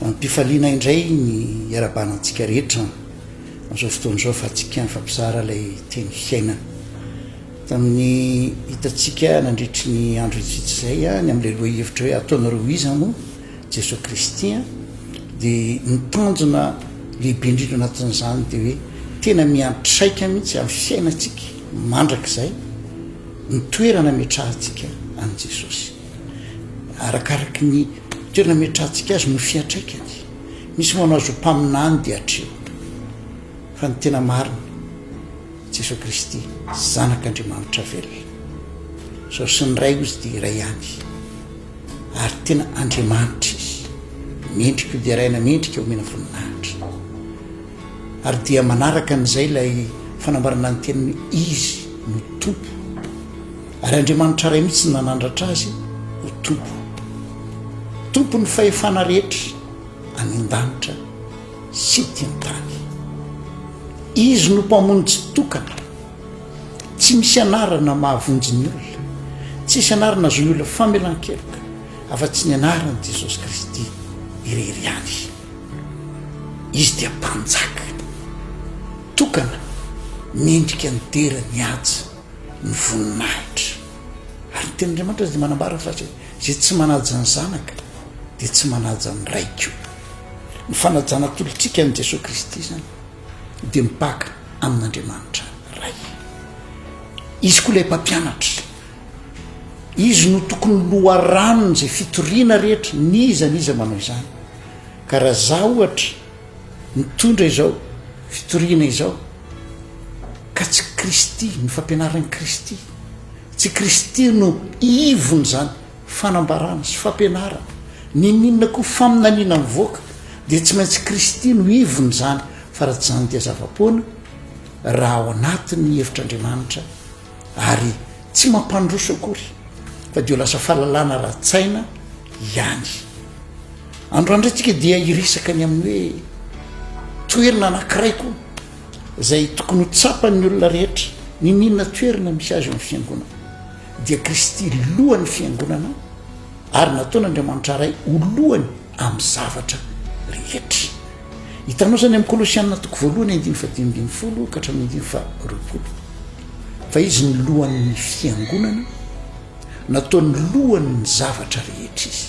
Amim-pifaliana indray ny iarahabana antsika rehetra amin'izao fotoana izao fa antsika mifampizara ilay teny fiainana. Tamin'ny hitantsika nandritry ny andro itsitsy izay ny amin'ilay lohahevitra hoe ataonareo iza moa Jesoa Kristy dia ny tanjona lehibe indrindra anatin'izany dia hoe tena miantraika mihitsy amin'ny fiainantsika mandrakizay ny toerana metrahantsika an'i Jesosy. Arakaraky ny toerana ametrahantsika azy no fiantraikany. Misy manao azy ho mpaminany dia hatreo. Fa ny tena marina, Jesoa Kristy, Zanak'Andriamanitra velona. Sao sy ny Ray ozy dia iray ihany. Ary tena Andriamanitra izy. Mendrika ho deraina, mendrika homena voninahitra. Ary dia manaraka an'izay ilay fanambarana ny teniny izy no Tompo. Ary Andriamanitra iray mihitsy no nanandratra azy ho Tompo. Tompon'ny fahefana rehetra any an-danitra sy ety an-tany. Izy no mpamono tsy tokana. Tsy misy anarana mahavonjy ny olona. Tsy misy anarana azon'ny olona famelan-keloka afa-tsy ny anaran'i Jesosy Kristy irery ihany. Izy dia mpanjaka tokana mendrika ny dera ny haja. ny voninahitra. Ary ny tenin'Andriamanitra dia manambara fa zay zay tsy manaja ny zanaka dia tsy manaja ny ray ko. Ny fanajana atolotrika an'i Jesoa Kristy zany dia mipaka amin'Andriamanitra Ray. Izy koa ilay mpampianatra. Izy no tokony loharanon'izay fitoriana rehetra, n'iza n'iza manao izany. Ka raha za ohatra Mitondra izao fitoriana izao ka tsy Kristy, ny fampianaran'i Kristy, tsy Kristy no ivon'izany fanambarana sy fampianarana, n'inon'inona koa faminaniana mivoaka dia tsy maintsy Kristy no ivon'izany, fa raha tsy izany dia zava-poana raha ao anatin'ny hevitr'Andriamanitra ary tsy mampandroso akory fa dia ho lasa fahalalana ara-tsaina ihany. Androandro antsika dia hiresaka ny amin'ny hoe toerana anankiray koa izay tokony ho tsapan'ny olona rehetra ny nina toerana misy azy amin'ny fiangonana dia Kristy lohan'ny fiangonana ary nataon'Andriamanitra ray ho lohany amin'ny zavatra rehetra. Hitanao izany amin'ny Kolosianina toko voalohany andiny fa dimy ambin'ny folo ka hatramin'ny andiny fa roapolo. Fa izy ny lohan'ny fiangonana, nataony lohan'ny zavatra rehetra izy,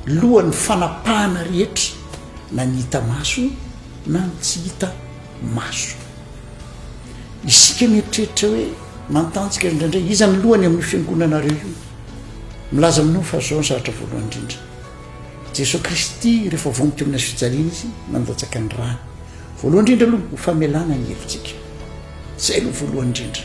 lohan'ny fanapahana rehetra na ny hita maso na ny tsy hita maso. Isika mieritreritra hoe mantanjika indraindray iza ny lohany amin'ny fiangonanareo io? Milaza aminao fa zao ny zavatra voalohany indrindra. Jesoa Kristy rehefa vonto teo amin'ny fijaliana izy nandatsaka ny rany. Voalohany indrindra aloha ho famelana ny helotsika. Izay aloha voalohany indrindra.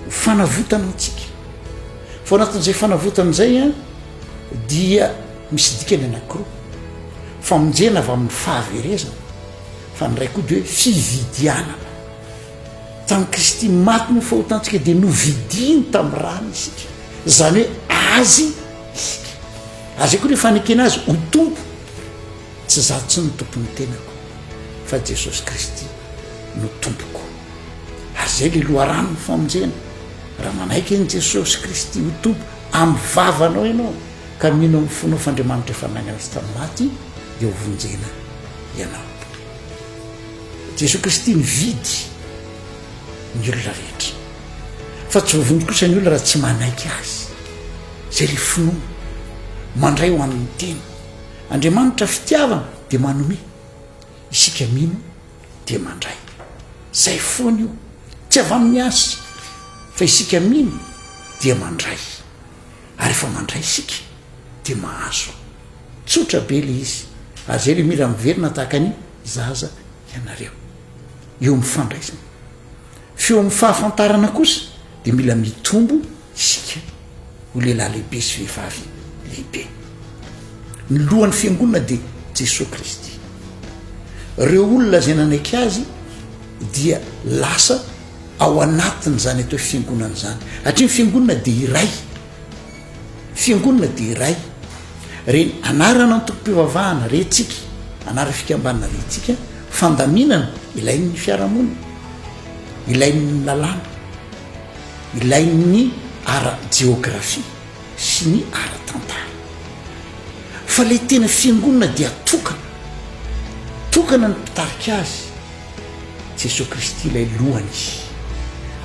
Ho fanavotana antsika. Fa anatin'izay fanavotana izay a dia misy dikany anankiroa. Famonjena avy amin'ny fahaverezana fa ny iray koa dia hoe fividianana. Tamin'i Kristy maty ny fahotantsika dia novidiany tamin'ny rany isika. Izany hoe azy isika. Azy koa ny fanekena azy ho Tompo, tsy za tsy no tompon'ny tenako fa Jesosy Kristy no tompoko. Ary zay le loharanon'ny famonjena, raha manaiky an'i Jesosy Kristy ho Tompo amin'ny vavanao ianao ka mino amin'ny fonao f'Andriamanitra efa nainga azy tamin'ny maty dia ho vonjena ianao. Jesosy Kristy nividy ny olona rehetra. fa tsy voavonjy kosa ny olona raha tsy manaiky azy zay le finoana mandray ho an'ny tena Andriamanitra fitiavana dia manome isika mino dia mandray zay foana io tsy avy amin'ny azy fa isika mino dia mandray ary efa mandray isika dia mahazo tsotra be le izy ary zay le mira miverina tahaka ny zaza ianareo eo amin'ny fandraisana F'eo amin'ny fahafantarana kosa dia mila mitombo isika ho lehilahy lehibe sy vehivavy lehibe. Ny lohan'ny fiangonana dia Jesoa Kristy. Ireo olona izay nanaiky Azy dia lasa ao anatin'izany atao hoe fiangonana izany. Satria ny fiangonana dia iray. Fiangonana dia iray. Re ny anarana antokom-pivavahana rentsika, anara fikambanana rentsika, fandaminana ilain'ny fiarahamonina, ilain'ny lalàna, ilain'ny ara-jeografia sy ny ara-tantara. Fa ilay tena fiangonana dia tokana, tokana ny mpitarika azy. Jesoa Kristy ilay lohany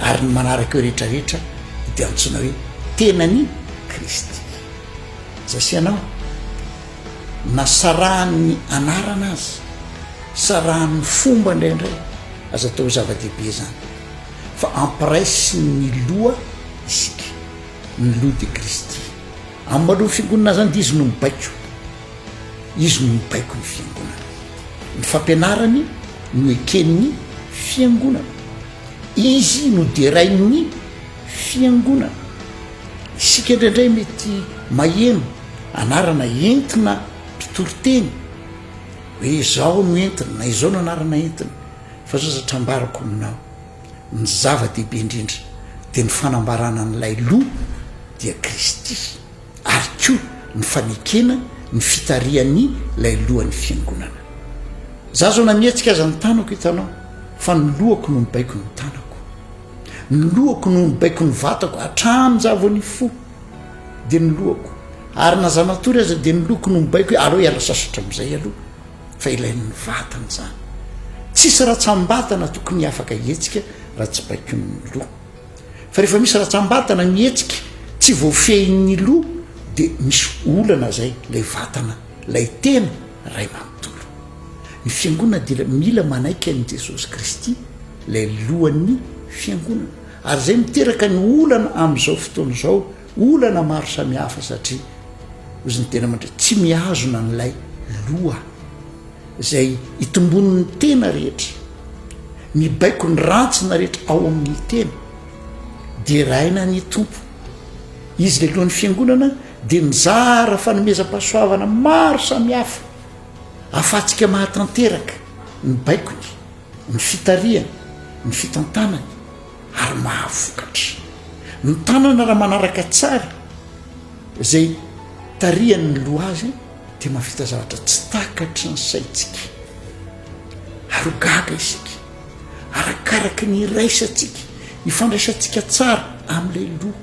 ary ny manaraka eo rehetra rehetra dia antsoina hoe tenany Kristy. Zay sy anao na sarahan'ny anarana azy, sarahan'ny fomba indraindray aza atao zava-dehibe zany fa ampiraisin'ny loha isika, ny loha dia Kristy. Amin'ny maloha figonina zany dia izy no mibaiko. Izy no mibaiko ny Fiangonana. Ny fampianarany no eken'ny Fiangonana. Izy no derain'ny Fiangonana. Isika indraindray mety maheno anarana entina mpitory teny, hoe izao no entiny na izao no anarana entiny, fa zao zatra ambarako aminao, ny zava-dehibe indrindra dia ny fanambarana an'ilay Loha, dia Kristy. ary koa ny fanekena ny fitarihan'ny ilay lohan'ny fiangonana. Za zao na mihetsika aza ny tanako hitanao fa ny lohako no nibaiko ny tanako. Ny lohako no nibaiko ny vatako hatrany za vao nifoha dia ny lohako ary na za matory aza dia ny lohako no mibaiko hoe aleo hiala sasatra amin'izay aloha fa ilain'ny vatana izany. Tsisy ratsam-batana tokony afaka hihetsika raha tsy baikoin'ny loha. fa rehefa misy ratsambatana mihetsika tsy voafehin'ny loha dia misy olana zay lay vatana lay tena ray manontolo ny fiangonana dia mila manaiky an'i jesosy kristy lay lohan'ny fiangonana ary zay miteraka ny olana am'izao fotoana izao olana maro samihafa satria ozy ny tena mandray tsy mihazona n'lay loha izay itomboan'ny tena rehetra, mibaiko ny rantsina rehetra ao amin'ny tena, deraina ny Tompo. Izy lehilohan'ny fiangonana dia nizara fanomezam-pahasoavana maro samihafa ahafahantsika mahatanteraka ny baikony, ny fitarihany, ny fitantanany ary mahavokatra. Ny tanana raha manaraka tsara izay tarihan'ny loha azy, Dia mahavita zavatra tsy takatry ny saintsika, ary ho gaga isika, arakaraky ny iraisantsika, ny fandraisantsika tsara amin'ilay loha.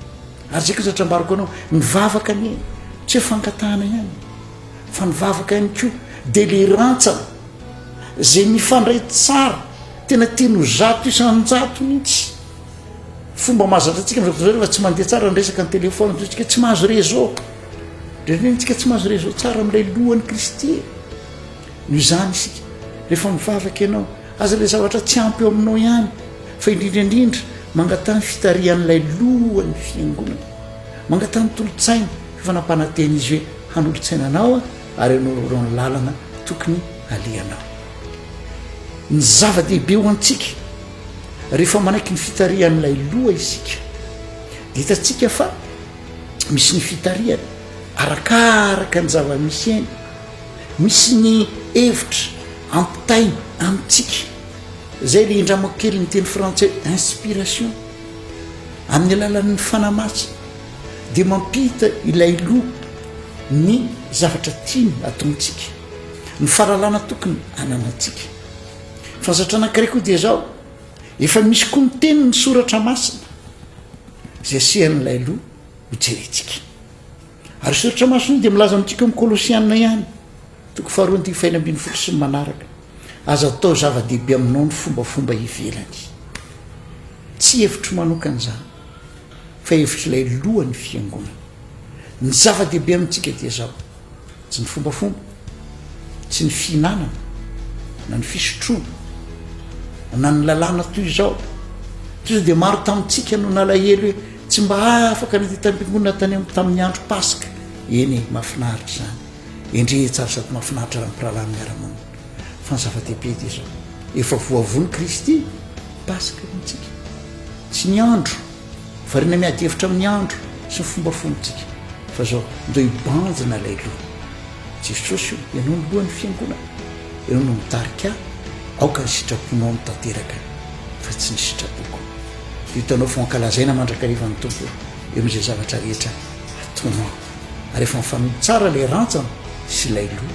Ary izay kosa trambaroko anao, ny vavaka anie tsy hoe fangatahana ihany, fa ny vavaka ihany koa dia ilay rantsana izay mifandray tsara, tena tiany ho zato isan-jato mihitsy. Fomba mahazatra antsika amin'izao fotoana izao rehefa tsy mandeha tsara ny resaka ny telefaonina, toy ny hoe tsy mahazo réseau. Dia rentsika tsy mahazo réseau tsara amin'ilay lohan'i Kristy e. Noho izany isika, rehefa mivavaka ianao, aza ilay zavatra tsy ampy eo aminao ihany, fa indrindra indrindra mangataha ny fitarihan'ilay lohan'ny fiangonana. Mangataha ny tolotsainy, fa efa nampanantena izy hoe hanolotsaina anao ary hanaoraorao ny lalana tokony halehanao. Ny zava-dehibe ho antsika, rehefa manaiky ny fitarihan'ilay loha isika, dia hitantsika fa misy ny fitarihana arakaraka ny zava-misy eny, misy ny hevitra ampitaina amintsika, izay ry indramako kely ny teny frantsay inspiration, amin'ny alalan'ny fanahy masina dia mampita ilay loha ny zavatra tiany ataontsika, ny fahalalana tokony ananantsika. Fahazatrana ankiray koa dia izao, Efa misy koa ny tenin'ny soratra masina izay sehan'ilay loha ho jerentsika. Ary io soratra masina io dia milaza amintsika amin'ny Kolosiana ihany, toko faharoa andivo fahenina ambin'ny folo sy ny manaraka, aza atao zava-dehibe aminao ny fombafomba ivelany. Tsy hevitro manokana izany. fa hevitr'ilay lohan'ny Fiangonana. Ny zava-dehibe amintsika dia izao, tsy ny fombafomba, tsy ny fihinanana, na ny fisotroana, na ny lalàna toy izao. Toy izao dia maro tamintsika no nalahelo hoe tsy mba afaka ny hitam-piangonana tany amin'ny tamin'ny andro Paska. Eny e, mahafinaritra izany. Endrey tsara sady mahafinaritra raha ny mpirahalahy miara-monina. fa ny zava-dehibe dia zao efa voavono Kristy Paska ny antsika sy ny andro variana miady hevitra amin'ny andro sy ny fomba fontsika fa zao ndao hibanjina ilay loha Jesosy io ianao ny lohan'ny fiangonana ianao no mitarika aoka ny sitraponao no tanteraka fa tsy ny sitrapoko dia hitanao fa ankalazaina mandrakariva ny tompo eo amin'izay zavatra rehetra ataonao ary efa mifanohy tsara ilay rantsana sy ilay loha